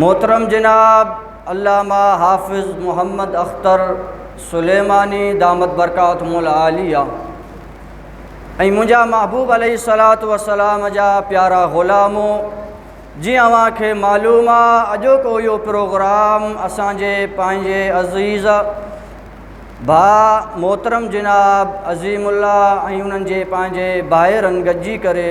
محترم جناب علامه حافظ محمد اختر سليماني دامت برڪاتهم العاليه ۽ منهنجا محبوب عليه الصلاة والسلام جا پيارا غلام جي اوهان کي معلوم آ اڄوڪو اهو پروگرام اسان جي پنهنجي عزيز ڀا محترم جناب عظيم الله ۽ انهن جي پنهنجي ڀائرن گڏجي ڪري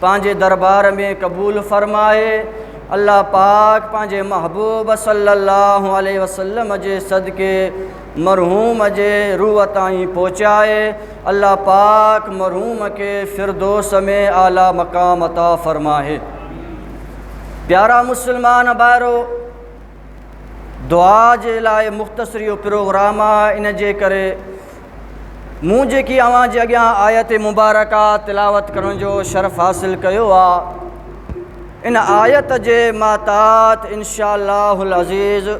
پنهنجي دربار ۾ قبول فرمائي الله پاڪ پنهنجي محبوب صلي الله عليه وسلم جي صدقي مرحوم جي روح تائين پهچائي الله پاڪ مرحوم کي فردوس ۾ اعليٰ مقام عطا فرمائي پيارا مسلمان بائرو دعا جي لاء مختصر اهو پروگرام آهي ان جي ڪري مون جيڪي اوهان جي اڳيان آيت مبارڪه تلاوت ڪرڻ جو شرف حاصل ڪيو آهي ان آيت جي ماتات انشاء الله العزيز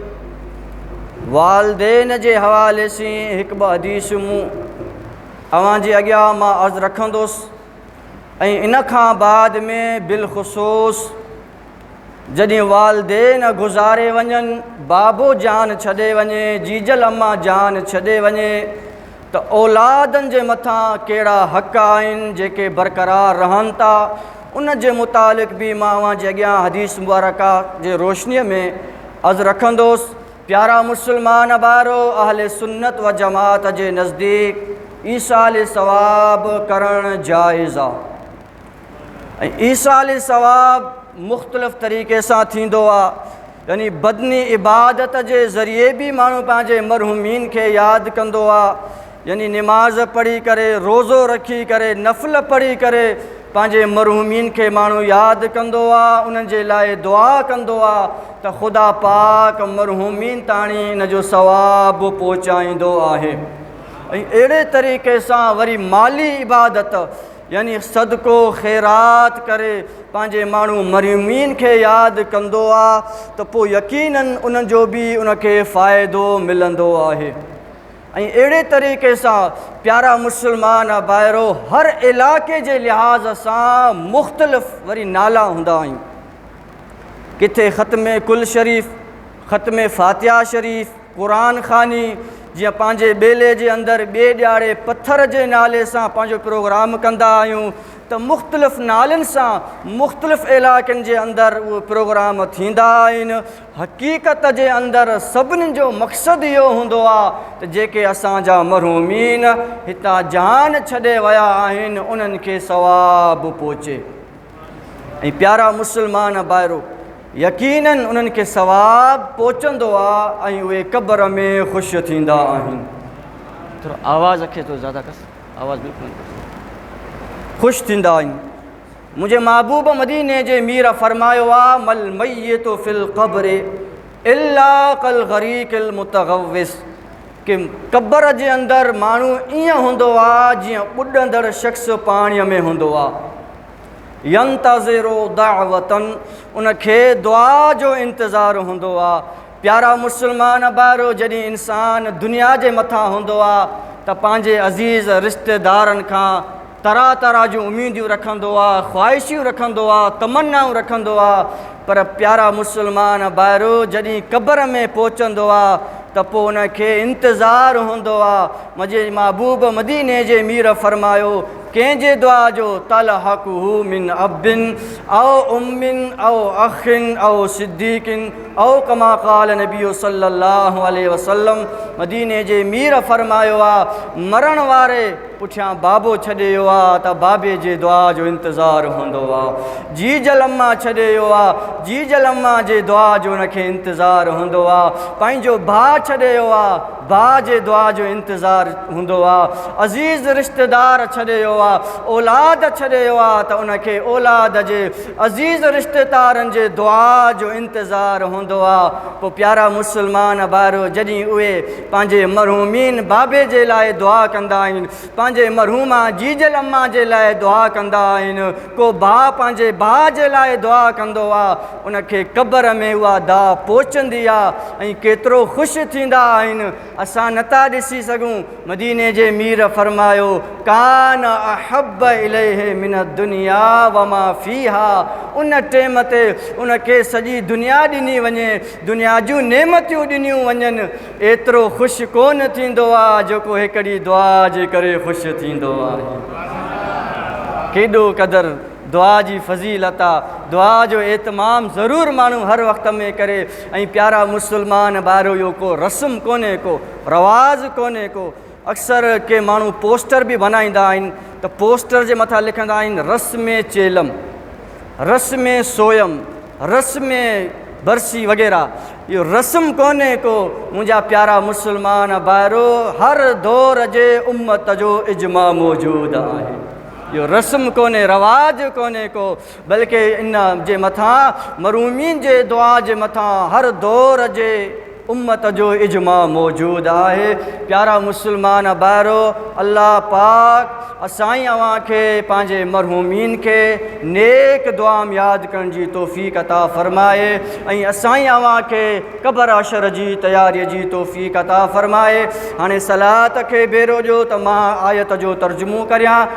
والدين جي حوالي سي هڪ ٻ حديث مون اوهان جي اڳيان مان عرض رکندوس ۽ ان کان بعد ۾ بالخصوص جڏهن والدين گذاري وڃن، بابو جان ڇڏي وڃي، جيجل اما جان ڇڏي وڃي ته اولادن جي مٿان ڪهڙا حق آهن جيڪي برقرار رهن ٿا ان جي متعلق به مان اوهان جي اڳيان حديث مبارڪه جي روشني ۾ عرض رکندوس پيارا مسلمان ڀائرو اهل سنت و جماعت جي نزديڪ ايصال ثواب ڪرڻ جائز آهي. ۽ ايصال ثواب مختلف طريقي سان ٿيندو آهي يعني بدني عبادت جي ذريعي به ماڻهو پنهنجي مرحومين کي ياد ڪندو آهي يعني نماز پڙهي ڪري روزو رکي ڪري نفل پڙهي ڪري پنهنجي مرحومين کي ماڻهو ياد ڪندو آهي انهن جي لاء دعا ڪندو آهي ته خدا پاڪ مرحومين تاڻي ان جو ثواب پهچائيندو آهي اهڙي طريقي سان وري مالي عبادت يعني صدقو خيرات ڪري پنهنجي ماڻهو مرحومين کي ياد ڪندو آ ته پوء يقيناً انهن جو به ان کي فائدو ملندو آهي ۽ اهڙي طريقي سان پيارا مسلمان ڀائرو هر علائقي جي لحاظ سان مختلف وري نالا هوندا آهن ڪٿي ختم ڪل شريف ختم فاتحه شريف قرآن خواني جيئن پنهنجي ٻيلي جي اندر ٻئي ڏياري پٿر جي نالي سان پنهنجو پروگرام ڪندا آهيون ته مختلف نالن سان مختلف علائقن جي اندر اهي پروگرام ٿيندا آهن حقيقت جي اندر سڀني جو مقصد اهو هوندو آهي ته جيڪي اسان جا مرحومين هتان جان ڇڏي ويا آهن انهن کي ثواب پهچي ۽ پيارا مسلمان ڀائرو يقيناً انهن کي ثواب پهچندو آ ۽ اهي قبر ۾ خوش ٿيندا آهن. ٿورو آواز کي ٿورو زياده ڪس آواز بلڪل نٿو اچي. خوش ٿيندا آهن. منهنجي محبوب مديني جي مير فرمايو آ، مل ميت في القبر الا ڪالغريق المتغوص ڪي قبر جي اندر ماڻهو ائين هوندو آ جيئن ٻڏندڙ شخص پاڻي ۾ هوندو آ. ينتظر دعوة ان کي دعا جو انتظار هوندو آ پيارا مسلمان ڀائرو جڏهن انسان دنيا جي مٿان هوندو آ ته پنهنجي عزيز رشتيدارن کان طرح طرح جون اميديون رکندو آ خواهشيون رکندو آ تمنائون رکندو آ پر پيارا مسلمان ڀائرو جڏهن قبر ۾ پهچندو آ ته پوء ان کي انتظار هوندو آ مجھي محبوب مديني جي مير فرمايو ڪنهن جي دعا جو تلحقه من اب او ام او اخ او صديق او ڪما قال النبي صلي الله عليه وسلم مديني جي مير فرمايو آ مرڻ واري پٺيان بابو ڇڏي ويو آ ته بابي جي دعا جو انتظار هوندو آ جيجل اما ڇڏي ويو آ جيجل اما جي دعا جو ان کي انتظار هوندو آ پنهنجو ڀاء ڇڏي ويو آ ڀاء جي دعا جو انتظار هوندو آ، عزيز رشتيدار ڇڏي ويو آ، اولاد ڇڏي ويو آ ته ان کي اولاد جي، عزيز رشتيتارن جي دعا جو انتظار هوندو آ، پوء پيارا مسلمان ڀائرو جڏهن اهي پنهنجي مرحومين بابي جي لاء دعا ڪندا آهن، پنهنجي مرحومه جيجل امان جي لاء دعا ڪندا آهن ڪو ڀاء پنهنجي ڀاء جي لاء دعا ڪندو آ ان کي قبر ۾ اها دعا پهچندي آ ۽ ڪيترو خوش ٿيندا آهن اسان نه ٿا ڏسي سگهون مديني جي مير فرمايو ڪان احب اليه من الدنيا وما فيها ان ٽيم تي ان کي سڄي دنيا ڏني وڃي دنيا جون نعمتيون ڏنيون وڃن ايترو خوش ڪونه ٿيندو آ جيڪو هڪڙي دعا جي ڪري خوش ٿيندو آهي. ڪيڏو قدر دعا جي فضيلت آ. دعا جو اهتمام ضرور ماڻهو هر وقت ۾ ڪري ۽ پيارا مسلمان ڀائرو اهو ڪو رسم ڪونهي ڪو رواز ڪونهي ڪو اڪثر ڪي ماڻهو پوسٽر به بنائيندا آهن ته پوسٽر جي مٿان لکندا آهن رس ۾ چيلم، رس ۾ سويم، رس ۾ برسي وغيره. اهو رسم ڪونهي ڪو منهنجا پيارا مسلمان ڀائرو هر دور جي امت جو اجماع موجود آهي. اهو رسم ڪونهي رواج ڪونهي ڪو بلڪه ان جي مٿان مرومين جي دعا جي مٿان هر دور جي امت جو اجماع موجود آهي پيارا مسلمان ڀائرو الله پاڪ اسائين اوهان کي پنهنجي مرحومين کي نيڪ دعا م ياد ڪرڻ جي توفيق عطا فرمائي ۽ اسائين اوهان کي قبر حشر جي تياري جي توفيق عطا فرمائي هاڻي صلات کي ڀيرو ڏيو ته مان آيت جو ترجمو ڪريان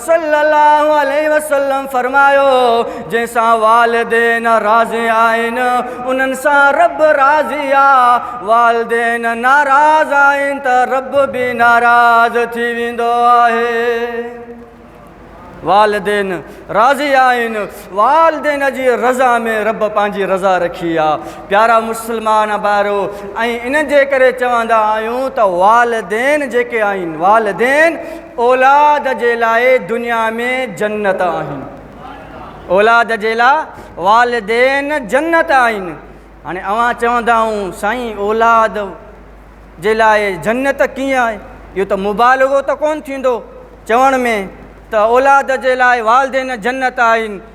صلّي اللّٰه عليه وسلّم فرمايو، جنهن سان والدين راضي آهن، انهن سان ربّ راضي آ، والدين ناراض آهن ته ربّ به ناراض ٿي ويندو آهي. والدين راضي آهن، والدين جي رضا ۾ ربّ پنهنجي رضا رکي آ. پيارا مسلمان ڀائرو! ۽ ان جي ڪري چوندا آهيون ته والدين جيڪي آهن، والدين اولاد جي لاء دنيا ۾ جنت آهن اولاد جي لاء والدين جنت آهن هاڻي اوهان چوندا آهو سائين اولاد جي لاء جنت ڪيئن آهي اهو ته مبالغو ته ڪونه ٿيندو چوڻ ۾ ته اولاد جي لاء والدين جنت آهن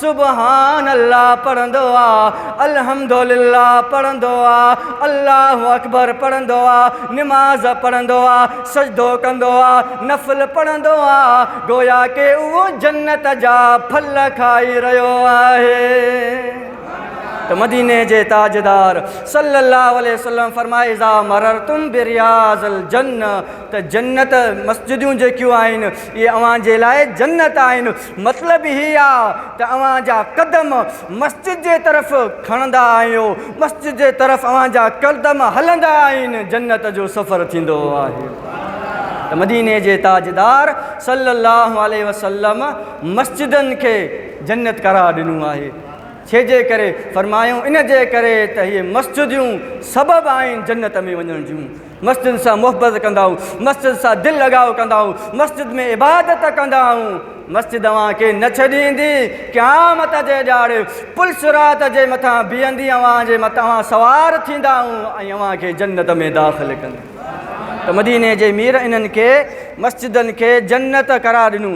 سبحان الله پڙهندو آ، الحمدلله پڙهندو آ، الله اڪبر پڙهندو آ، نماز پڙهندو آ، سجدو ڪندو آ، نفل پڙهندو آ، گويا ڪي اهو جنت جا ڦل کائي رهيو آهي. ته مديني جي تاجدار صلّي اللّٰه عليه وسلّم فرمايو اذا مررتم برياض الجنّه ته جنت مسجدون جيڪيون آهن اهي اوهان جي لاء جنت آهن. مطلب هي آ ته اوهان جا قدم مسجد جي طرف کڻندا آهيو، مسجد جي طرف اوهان جا قدم هلندا آهن، جنت جو سفر ٿيندو آهي. ته مديني جي تاجدار صلّي اللّٰه عليه وسلّم مسجدن کي جنت قرار ڏنو آهي. ڇي جي ڪري؟ فرمايو، ان جي ڪري ته هي مسجديون سبب آهن جنت ۾ وڃڻ جون. مسجد سان محبت ڪندائون مسجد سان دل لڳاء ڪندائون مسجد ۾ عبادت ڪندائون مسجد اوهان کي نه ڇڏيندي قيامت جي ڏياڙي پل صراط جي مٿان بيهندي اوهان جي مت اوهان سوار ٿيندائون ۽ اوهان کي جنت ۾ داخل ڪندي ته مديني جي مير انهن کي مسجدن کي جنت قرار ڏنو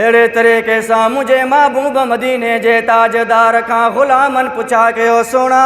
اهڙي طريقي سان منهنجي محبوب مديني جي تاجدار کان غلامن پڇا ڪيو سهڻا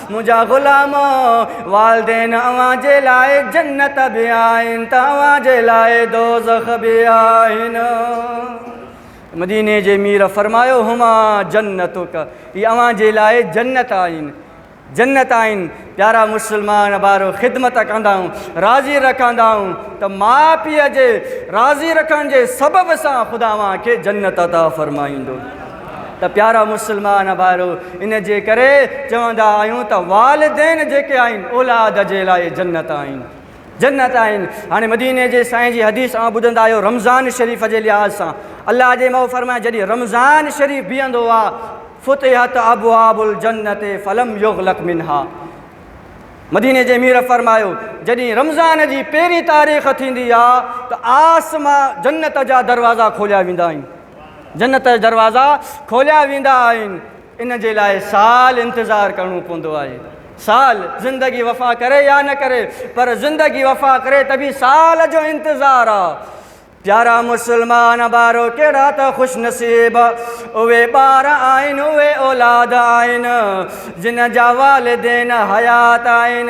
منهنجا غلامو! والدين اوهان جي لاء جنت به آهن ته اوهان جي لاء دوزخ به آهن. مديني جي مير فرمايو، هما جنتک، اهي اوهان جي لاء جنت آهن. جنت آهن. پيارا مسلمان ڀائرو! خدمت ڪندائون، راضي رکندائون ته ماء پيء جي راضي رکڻ جي سبب سان خدا اوهان کي جنت عطا فرمائيندو. ته پيارا مسلمان ڀائرو ان جي ڪري چوندا آهيون ته والدين جيڪي آهن اولاد جي لاء جنت آهن جنت آهن هاڻي مديني جي سائين جي حديث آ ٻڌندا آهيو رمضان شريف جي لحاظ سان الله جي مئو فرمائي جڏهن رمضان شريف بيهندو آ فتحت ابواب الجنت فلم يغلق منها مديني جي مير فرمايو جڏهن رمضان جي پهرين تاريخ ٿيندي آ ته آسمان جنت جا دروازا کوليا ويندا آهن جنت جا دروازا کوليا ويندا آهن ان جي لاء سال انتظار ڪرڻو پوندو آهي سال زندگي وفا ڪري يا نه ڪري پر زندگي وفا ڪري ته به سال جو انتظار آ پيارا مسلمان بارو ڪهڙا ته خوش نصيب اهي ٻار آهن اهي اولاد آهن جن جا والدين حيات آهن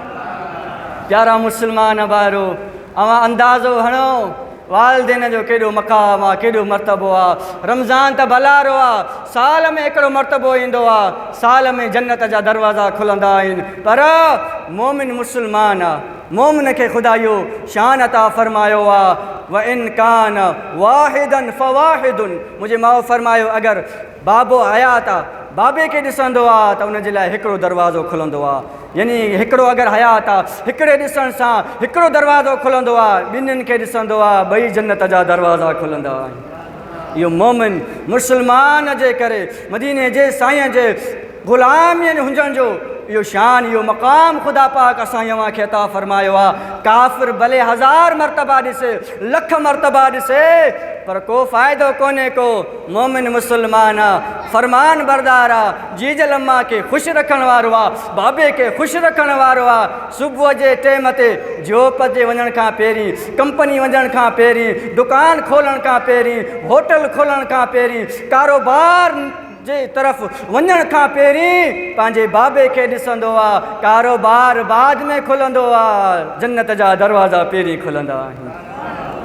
پيارا مسلمان ڀائرو اوهان اندازو هڻو والدين جو ڪيڏو مقام آ ڪيڏو مرتبو آ رمضان ته ڀلارو آ سال ۾ هڪڙو مرتبو ايندو آ سال ۾ جنت جا دروازا کلندا آهن پر مومن مسلمان آ مومن کي خدا اهو شان عطا فرمايو آ و ان کان واحدن فواحدن منهنجي ماء فرمايو اگر بابو حيات آ، بابي کي ڏسندو آ ته ان جي لاء هڪڙو دروازو کلندو آ. يعني هڪڙو اگر حيات آ، هڪڙي ڏسڻ سان هڪڙو دروازو کلندو آ، ٻنهين کي ڏسندو آ، ٻئي جنت جا دروازا کلندا آهن. اهو مومن، مسلمان، جي ڪري مديني جي سائين جي. غلام يعني هجڻ جو اهو شان اهو مقام خدا پاڪ اسان اوهان کي عطا فرمايو آ ڪافر ڀلي هزار مرتبا ڏسي لک مرتبا ڏسي پر ڪو فائدو ڪونهي ڪو مومن مسلمان آ فرمان بردار آ جيجل اما کي خوش رکڻ وارو آ بابي کي خوش رکڻ وارو آ صبح جي ٽيم تي جوپ تي وڃڻ کان پهرين ڪمپني وڃڻ کان پهرين دڪان کولڻ کان پهرين هوٽل کولڻ کان پهرين ڪاروبار جي طرف وڃڻ کان پهرين پنهنجي بابي کي ڏسندو آ، ڪاروبار بعد ۾ کلندو آ، جنت جا دروازا پهرين کلندا آهن.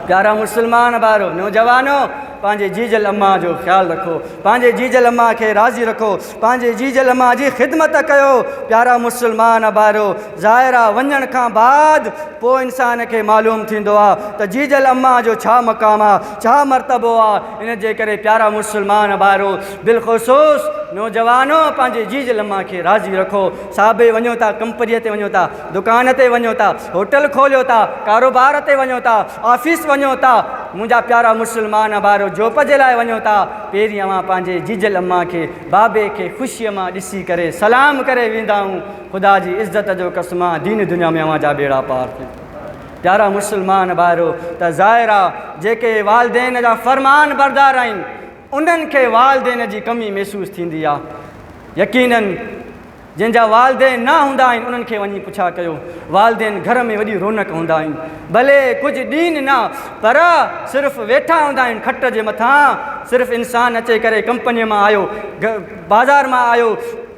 پيارا مسلمان ڀائرو، نوجوانو! پنهنجي جيجل امان جو خيال رکو، پنهنجي جيجل امان کي راضي رکو، پنهنجي جيجل امان جي خدمت ڪيو. پيارا مسلمان ڀائرو! ظاهر آ وڃڻ کان بعد پوء انسان کي معلوم ٿيندو آ ته جيجل امان جو ڇا مقام آ، ڇا مرتبو آ. ان جي ڪري پيارا مسلمان ڀائرو، بالخصوص نوجوانو پنهنجي جيج لما کي راضي رکو، صابي وڃو ٿا، ڪمپنيء تي وڃو ٿا، دڪان تي وڃو ٿا، هوٽل کوليو ٿا، ڪاروبار تي وڃو ٿا، آفيس وڃو ٿا، منهنجا پيارا مسلمان ڀائرو جوب جي لاء وڃو ٿا، پهرين اوهان پنهنجي جيج لما کي، بابي کي خوشيء مان ڏسي ڪري سلام ڪري ويندائون، خدا جي عزت جو قسم آهن دين دنيا ۾ اوهان جا ٻيڙا پار ٿين. پيارا مسلمان ڀائرو ته ظاهر آ جيڪي والدين جا فرمان بردار آهن انهن کي والدين جي ڪمي محسوس ٿيندي آ يقينن جن جا والدين نه هوندا آهن انهن کي وڃي پڇا ڪيو والدين گهر ۾ وڏي رونق هوندا آهن ڀلي ڪجهه ڏين نه پر صرف ويٺا هوندا آهن کٽ جي مٿان صرف انسان اچي ڪري ڪمپني مان آيو بازار مان آيو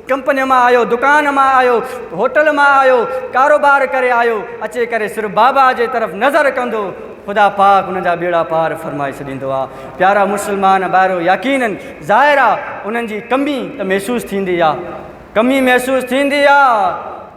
ڪمپنيء مان آيو، دڪان مان آيو، هوٽل مان آيو، ڪاروبار ڪري آيو، اچي ڪري صرف بابا جي طرف نظر ڪندو، خدا پاڪ ان جا ٻيڙا پار فرمائي ڇڏيندو آ. پيارا مسلمان ڀائرو! يقينن ظاهر آ انهن جي ڪمي ته محسوس ٿيندي آ، ڪمي محسوس ٿيندي آ،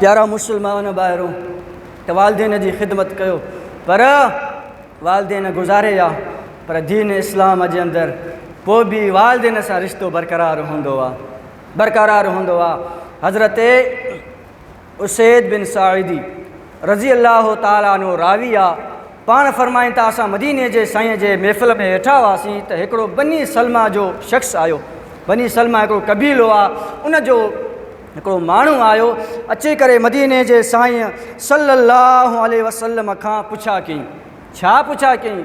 پيارا مسلمان ڀائرو ته والدين جي خدمت ڪيو پر والدين گذاري ويا پر دين اسلام جي اندر پوء به والدين سان رشتو برقرار هوندو آ برقرار هوندو آ حضرت اسيد بن ساعدي رضي الله تعالٰي عنه راوي آ، پاڻ فرمائن ٿا، اسان مديني جي سائين جي محفل ۾ ويٺا هئاسين ته هڪڙو بني سلمه جو شخص آيو، بني سلمه هڪڙو قبيلو آ، ان جو هڪڙو ماڻهو آيو، اچي ڪري مديني جي سائين صلّي اللّٰه عليه وسلّم کان پڇا ڪيائين، ڇا پڇا ڪيائين؟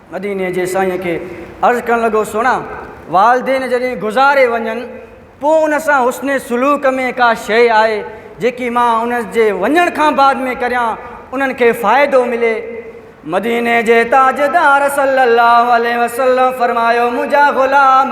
مديني جي سائين کي عرض ڪرڻ لڳو، سهڻا! والدين جڏهن گذاري وڃن، پوء ان سان حسن سلوڪ ۾ ڪا شيء آهي، جيڪي مان انهن جي وڃڻ کان بعد ۾ ڪريان، انهن کي فائدو ملي؟ مديني جي تاجدار صلّي اللّٰه عليه وسلّم فرمايو، منهنجا غلام!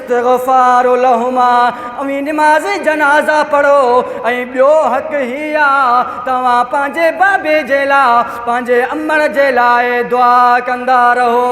استغفار لهما ۽ نماز جنازه پڙهو ۽ ٻيو حق هي آ توهان پنهنجي بابي جي لا پنهنجي امڙ جي لاء دعا ڪندا رهو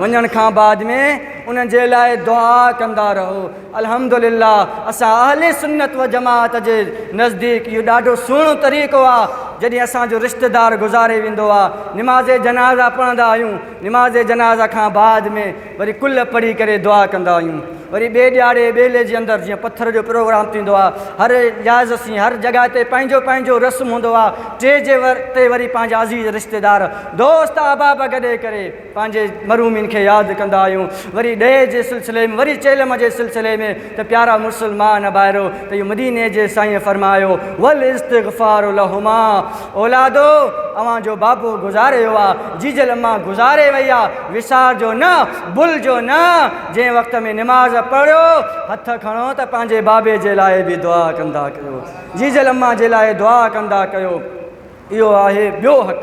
وڃڻ کان بعد ۾ انهن جي لاء دعا ڪندا رهو الحمدلله اسان اهل سنت و جماعت جي نزديڪ اهو ڏاڍو سهڻو طريقو آ جڏهن اسان جو رشته دار گذاري ويندو آ نماز جنازه پڙهندا آهيون نماز جنازه کان بعد ۾ وري ڪل پڙهي ڪري دعا ڪندا آهيون وري ٻي ڏياڙي ٻيلي جي اندر جيئن پٿر جو پروگرام ٿيندو آهي هر لحاظ سين هر جڳهه تي پنهنجو پنهنجو رسم هوندو آهي ٽي جي ور تي وري پنهنجا عزيز رشتيدار دوست احباب گڏي ڪري پنهنجي مرحومين کي ياد ڪندا آهيون وري ڏهي جي سلسلي ۾ وري چيلم جي سلسلي ۾ ته پيارا مسلمان ڀائرو ته اهو مديني جي سائين فرمايو والاستغفار لهما اولادو اوهان جو بابو گذاري ويو آ جيجل اما گذاري وئي آ وسار جو نه بل جو نه جنهن وقت ۾ نماز پڙهيو هٿ کڻو ته پنهنجي بابي جي لاء به دعا ڪندا ڪيو جيجل اما جي لاء دعا ڪندا ڪيو اهو آهي ٻيو حق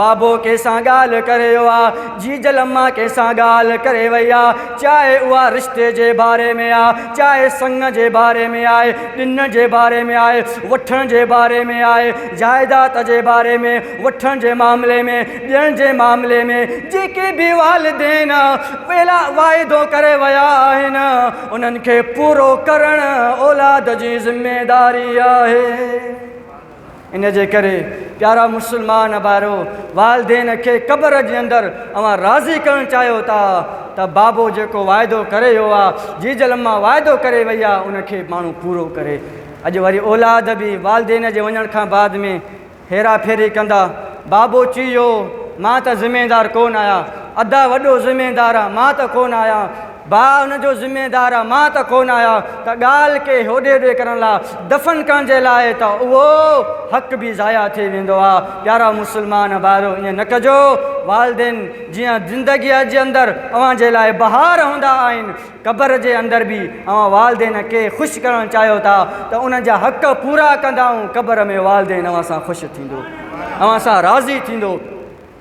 بابو ڪنهن سان ڳالهه ڪري ويو آ؟ جيجل اما ڪنهن سان ڳالهه ڪري وئي آ؟ چاهي اها رشتي جي باري ۾ آ، چاهي سڱ جي باري ۾ آهي، ڏن جي باري ۾ آهي، وٺڻ جي باري ۾ آهي، جائداد جي باري ۾، وٺڻ جي معاملي ۾، ڏيڻ جي معاملي ۾، جيڪي به والدين ويلا واعدو ڪري ويا آهن، انهن کي پورو ڪرڻ اولاد جي ذميداري آهي. ان جي ڪري پيارا مسلمان ڀائرو! والدين کي قبر جي اندر اوهان راضي ڪرڻ چاهيو ٿا ته بابو جيڪو واعدو ڪري ويو آ، جيجل اما واعدو ڪري وئي آ ان کي ماڻهو پورو ڪري. اڄ وري اولاد به والدين جي وڃڻ کان بعد ۾ هيرا ڦيري ڪندا. بابو چيو مان ته ذميدار ڪونه آهيان، ادا وڏو ذميدار آ مان ته ڪونه آهيان. ڀاء ان جو ذميدار مان ته ڪونه آهيان ته ڳالهه ڪي هوڏي هوڏي ڪرڻ لاء دفن ڪرڻ جي لاء ته اهو حق به ضايع ٿي ويندو آ پيارا مسلمان ڀائرو ائين نه ڪجو والدين جيئن زندگيء جي اندر اوهان جي لاء بهار هوندا آهن قبر جي اندر به اوهان والدين کي خوش ڪرڻ چاهيو ٿا ته انهن جا حق پورا ڪندائون قبر ۾ والدين اوهان سان خوش ٿيندو اوهان سان راضي ٿيندو.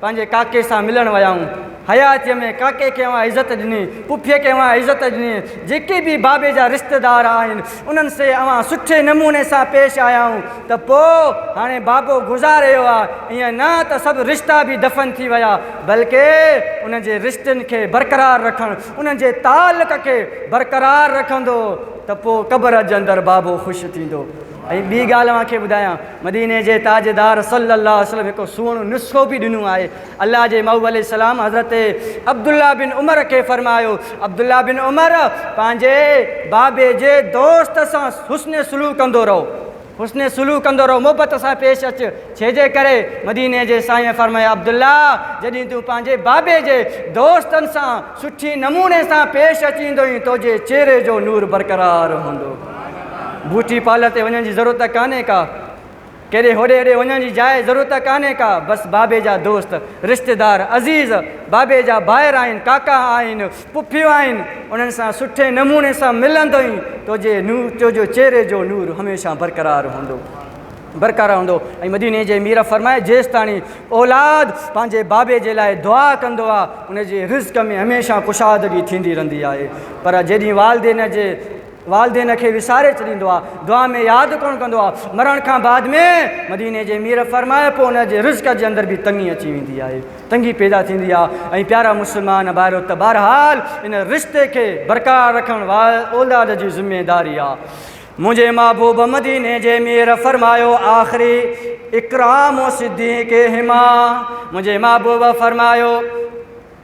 پنهنجي ڪاڪي سان ملڻ ويائون. حياتيء ۾ ڪاڪي کي اوهان عزت ڏني، پڦيء کي اوهان عزت ڏني، جيڪي به بابي جا رشتيدار آهن، انهن سي اوهان سٺي نموني سان پيش آيائون ته پوء هاڻي بابو گذار رهيو آهي، ائين نه ته سڀ رشتا به دفن ٿي ويا، بلڪه انهن جي رشتن کي برقرار رکڻ، انهن جي تعلق کي برقرار رکندو ته پوء قبر جي اندر بابو خوش ٿيندو. ۽ ٻي ڳالهه اوهان کي ٻڌايان، مديني جي تاجدار صلّي اللّٰه عليه وسلّم هڪ سهڻو نسخو به ڏنو آهي. الله جي مئو عليه السّلام حضرت عبدالله بن عمر کي فرمايو، عبدالله بن عمر! پنهنجي بابي جي دوست سان حسن سلوڪ ڪندو رهو، حسن سلوڪ ڪندو رهو، محبت سان پيش اچ، ڇيجي ڪري مديني جي سائينء فرمايو، عبدالله! جڏهن تون پنهنجي بابي جي دوستن سان سٺي نموني سان پيش اچيندوئين، تنهنجي چهري جو نور برقرار هوندو. بيوٽي پارلر تي وڃڻ جي ضرورت ڪانهي ڪا، ڪيڏي هوڏي هوڏي وڃڻ جي جاء ضرورت ڪانهي ڪا، بس بابي جا دوست، رشتيدار، عزيز، بابي جا ڀائر آهن، ڪاڪا آهن، پڦيون آهن، انهن سان سٺي نموني سان ملندئين توجي توجو چهري جو نور هميشه برقرار هوندو برقرار هوندو ۽ مديني جي مير فرمائي جيستاڻي اولاد پنهنجي بابي جي لاء دعا ڪندو آ انهن جي رزق ۾ هميشه ڪشادگي ٿيندي رهندي آهي پر جيڏي والدين جي والدين کي وساري ڇڏيندو آ دعا ۾ ياد ڪونه ڪندو آ مرڻ کان بعد ۾ مديني جي مير فرمايو پوء ان جي رزق جي اندر به تنگي اچي ويندي آهي تنگي پيدا ٿيندي آ ۽ پيارا مسلمان ڀائرو ته بهرحال ان رشتي کي برقرار رکڻ اولاد جي ذميداري آ منهنجي محبوب مديني جي مير فرمايو آخري اڪرام صديق هما منهنجي محبوب فرمايو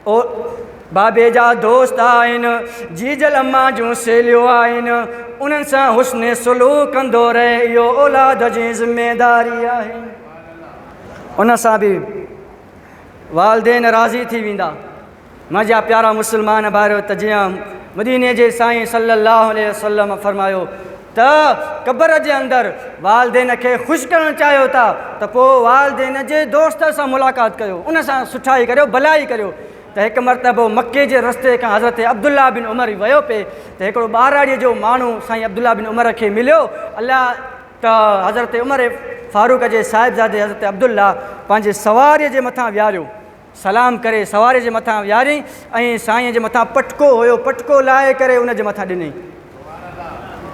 او بابي جا دوست آهن، جيجل امان جون سهيليون آهن، انهن سان حسن سلوڪ ڪندو رهي اهو اولاد جي ذميداري آهي. ان سان به والدين راضي ٿي ويندا. منهنجا پيارا مسلمان ڀائرو ته جيئن مديني جي سائين صلي الله عليه وسلم فرمايو ته قبر جي اندر والدين کي خوش ڪرڻ چاهيو ٿا ته پوء والدين جي دوست سان ملاقات ڪريو ان سان سٺائي ڪريو ڀلائي ڪريو ته هڪ مرتبو مڪي جي رستي کان حضرت عبدالله بن عمر ويو پئي ته هڪڙو ٻهراڙيء جو ماڻهو سائين عبدالله بن عمر کي مليو الله ته حضرت عمر فاروق جي صاحبزادي حضرت عبدالله پنهنجي سواريء جي مٿان ويهاريو سلام ڪري سواري جي مٿان ويهاريائين ۽ سائين جي مٿان پٽڪو هيو پٽڪو لاهي ڪري ان جي مٿان ڏنائين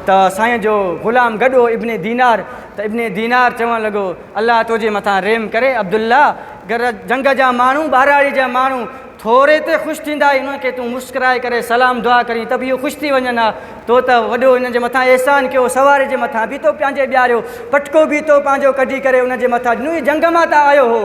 ته سائين جو غلام گڏو ابن دينار ته ابن دينار چوڻ لڳو الله توجي مٿان ريم ڪري عبدالله گر جنگ جا ماڻهو ٻهراڙي جا ماڻهو ٿوري تي خوش ٿيندا انهن کي تون مسڪرائي ڪري سلام دعا ڪرين ته به اهو خوش ٿي وڃن ها تو ته وڏو انهن جي مٿان احسان ڪيو سواري جي مٿان به تو پنهنجي ٻياريو پٽڪو به تو پنهنجو ڪڍي ڪري ان جي مٿان ڏنو جنگ مان ته آيو هو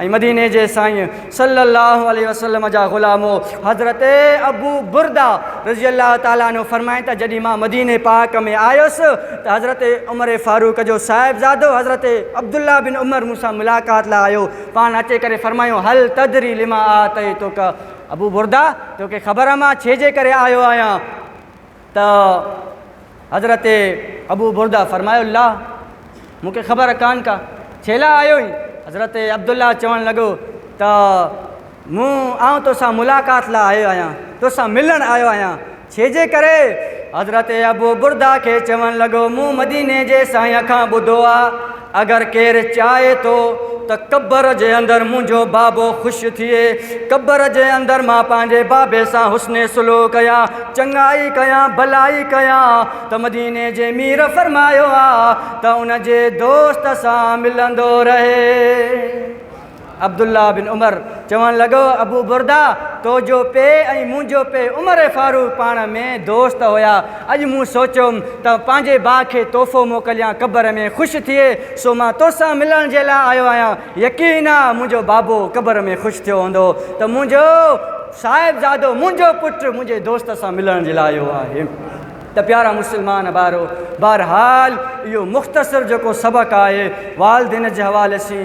۽ مديني جي سائين صلّي اللّٰه عليه وسلّم جا غلامو حضرت ابو برده رضي الله تعالٰي عنه فرمائن ٿا جڏهن مان مديني پاڪ ۾ آيس ته حضرت عمر فاروق جو صاحبزادو حضرت عبدالله بن عمر مون سان ملاقات لاء آيو پاڻ اچي ڪري فرمايو هل تدري لما آتيتک ابو برده توکي خبر آ مان ڇي جي ڪري آيو آهيان؟ ته حضرت ابو برده فرمايو الله مون کي خبر ڪانه ڪا ڇيلا آيوئين؟ حضرت عبدالله چوڻ لڳو ته مون آئون توسان ملاقات لا آيو آهيان، توسان ملڻ آيو آهيان، ڇيجي ڪري؟ حضرت ابو برده کي چوڻ لڳو مون مديني جي سائين کان ٻڌو آ اگر ڪير چاهي ٿو ته قبر جي اندر منهنجو بابو خوش ٿئي، قبر جي اندر مان پنهنجي بابي سان حسن سلوڪ يا چڱائي ڪيان، ڀلائي ڪيان ته مديني جي مير فرمايو آهي ته ان جي دوست سان ملندو رهي. عبدالله بن عمر چوڻ لڳو، ابو برده! تو جو پي ۽ منهنجو پي عمر فاروق پاڻ ۾ دوست هيا. اڄ مون سوچيو ته پنهنجي ڀاء کي تحفو موڪليان قبر ۾ خوش ٿئي، سو مان تو سان ملڻ جي لاء آيو آهيان. يقين آ منهنجو بابو قبر ۾ خوش ٿيو هوندو ته منهنجو صاحبزادو، منهنجو پٽ منهنجي دوست سان ملڻ جي لاء آيو آهي. ته پيارا مسلمان ڀائرو! بهرحال اهو مختصر جيڪو سبق آهي والدين جي حوالي سين،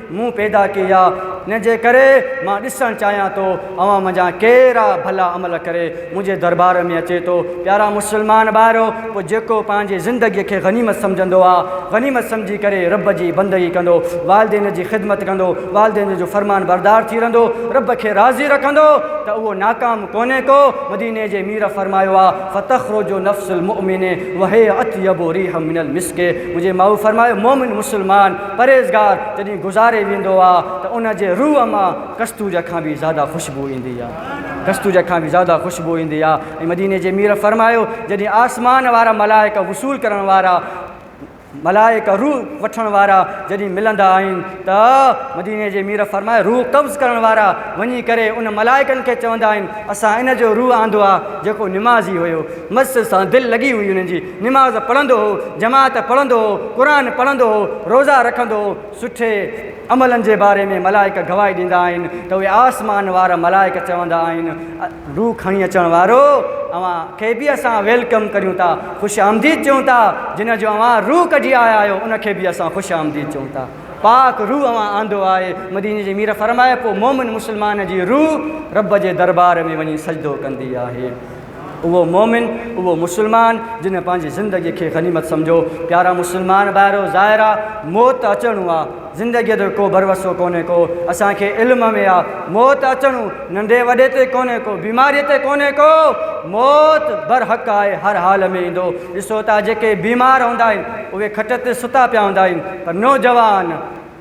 مون پيدا ڪئي آ ان جي ڪري مان ڏسڻ چاهيان ٿو اوهان منجهان ڪير آ ڀلا عمل ڪري منهنجي دربار ۾ اچي ٿو پيارا مسلمان ڀائرو پوء جيڪو پنهنجي زندگي کي غنيمت سمجهندو آ غنيمت سمجهي ڪري رب جي بندگي ڪندو والدين جي خدمت ڪندو والدين جو فرمان بردار ٿي رهندو رب کي راضي رکندو ته اهو ناڪام ڪونهي ڪو مديني جي مير فرمايو آ فتخرج نفس المؤمن وهي اطيب ريح من المسڪ منهنجي ماء فرمايو مؤمن مسلمان پرهيزگار جڏهن گذاري ويندو آ ته ان جي روح مان ڪستوريء کان به زياده خوشبو ايندي آ. ڪستوريء کان به زياده خوشبو ايندي آ ۽ مديني جي مير فرمايو جڏهن آسمان وارا ملائڪ وصول ڪرڻ وارا ملائڪ روح وٺڻ وارا جڏهن ملندا آهن ته مديني جي مير فرمايو روح قبض ڪرڻ وارا وڃي ڪري ان ملائڪن کي چوندا آهن اسان ان جو روح آندو آ جيڪو نمازي هيو مسجد سان دل لڳي هئي انهن جي نماز پڙهندو هو، جماعت پڙهندو هو، قرآن پڙهندو هو، روزا رکندو هو، سٺي عملن جي باري ۾ ملائڪ گواهي ڏيندا آهن ته اهي آسمان وارا ملائڪ چوندا آهن روح کڻي اچڻ وارو اوهان کي به اسان ويلڪم ڪريون ٿا خوش آمديد چيون ٿا جنهن جو اوهان روح ڪڍي آيا آهيو ان کي به اسان خوش آمديد چيون ٿا پاڪ روح اوهان آندو آهي مديني جي مير فرمائي پوء مومن مسلمان جي روح رب جي دربار ۾ وڃي سجدو ڪندي آهي اهو مؤمن، اهو مسلمان، جنهن پنهنجي زندگي کي غنيمت سمجهيو. پيارا مسلمان ڀائرو! ظاهر آ موت ته اچڻو آ. زندگيء جو ڪو ڀروسو ڪونهي ڪو. اسان کي علم ۾ آ، موت ته اچڻو. ننڍي وڏي تي ڪونهي ڪو، بيماريء تي ڪونهي ڪو. موت برحق آهي، هر حال ۾ ايندو. ڏسو ته جيڪي بيمار هوندا آهن، اهي کٽ تي ستا پيا هوندا آهن، پر نوجوان!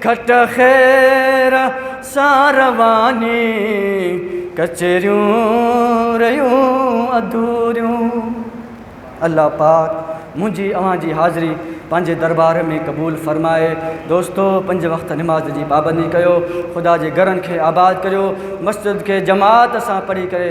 کٽ خير سان رواني، ڪچهريون رهيون اڌوريون. الله پاڪ منهنجي اوهان جي حاضري پنهنجي دربار ۾ قبول فرمائي. دوستو پنج وقت نماز جي پابندي ڪيو، خدا جي گھرن کي آباد ڪريو، مسجد کي جماعت سان پڙهي ڪري.